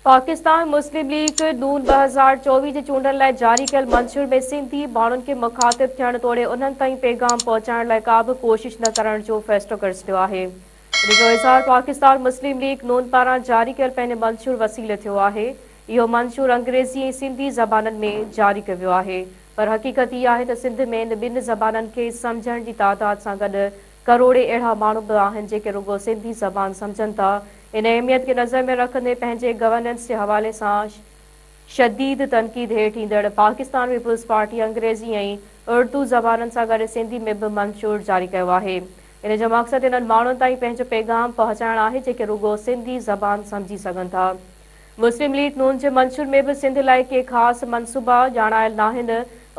پاڪستان مسلم ليگ ن ٻه هزار چوويهه جي چونڊن لاء جاري ڪيل منشور ۾ سنڌي ماڻهن کي مخاطب ٿيڻ توڙي انهن تائين پيغام پهچائڻ لاء ڪابه ڪوشش نه ڪرڻ جو فيصلو ڪري ڇڏيو آهي ان جو اظهار پاڪستان مسلم ليگ ن پاران جاري ڪيل پنهن منشور وسيلي ٿيو آهي اهو منشور انگريزي ۽ سنڌي زبانن ۾ جاري ڪيو ويو آهي پر حقيقت هي آهي ته سنڌ ۾ ان ٻن زبانن کي سمجهڻ جي تعداد سان گڏ ڪروڙين اهڙا ماڻهو به آهن جيڪي رڳو سنڌي زبان سمجهن ٿا. ان اهميت کي نظر ۾ رکندي پنهنجي گورننس جي حوالي سان شديد تنقيد هيٺ ايندڙ پاڪستان پيپلز پارٽي انگريزي ۽ اڙدو زبانن سان گڏ سنڌي ۾ به منشور جاري ڪيو آهي. ان جو مقصد انهن ماڻهن تائين پنهنجو پيغام پهچائڻ آهي جيڪي رڳو سنڌي زبان سمجهي سگهن ٿا. مسلم ليگ نون جي منشور ۾ به سنڌ لاء ڪي خاص منصوبا ڄاڻايل ناهن،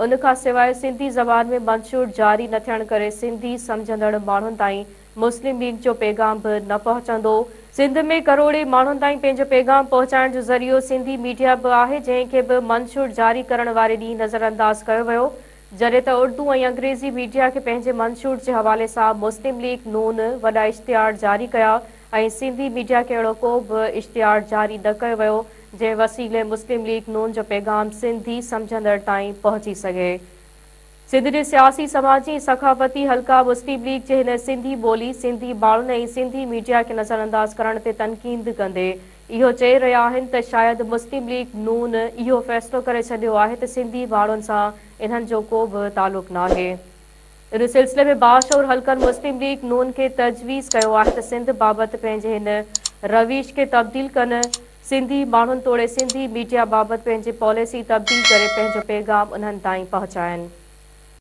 ان کان سواء سنڌي زبان ۾ منشور جاري نه ٿيڻ ڪري سنڌي سمجهندڙ ماڻهن تائين مسلم ليگ جو پيغام به نه پهچندو، سنڌ ۾ ڪروڙين ماڻهن تائين پنهنجو پيغام پهچائڻ جو ذريعو سنڌي ميڊيا به آهي، جنهن کي به منشور جاري ڪرڻ واري ڏينهن نظرانداز ڪيو ويو، جڏهن ته اردو ۽ انگريزي ميڊيا کي پنهنجي منشور جي حوالي سان مسلم ليگ نون وڏا اشتهار جاري ڪيا، ۽ سنڌي ميڊيا کي اهڙو ڪو به اشتهار جاري نه ڪيو ويو جنهن وسيلي مسلم ليگ نون جو پيغام سنڌي سمجهندڙ تائين پهچي سگهي. سنڌ جي سياسي، سماجي ۽ ثقافتي حلقا مسلم ليگ جي هن سنڌي ٻولي، سنڌي ماڻهن ۽ سنڌي ميڊيا کي نظر انداز ڪرڻ تي تنقيد ڪندي اهو چئي رهيا آهن ته شايد مسلم ليگ نون اهو فيصلو ڪري ڇڏيو آهي ته سنڌي ماڻهن سان انهن جو ڪو به تعلق ناهي. ان سلسلي ۾ باشعور حلقن مسلم ليگ نون کي تجويز ڪيو آهي ته سنڌ بابت پنهنجي هن روش کي تبديل ڪن، سنڌي ماڻهن توڙي سنڌي ميڊيا بابت پنهنجي پاليسي تبديل ڪري پنهنجو پيغام انهن تائين پهچائن.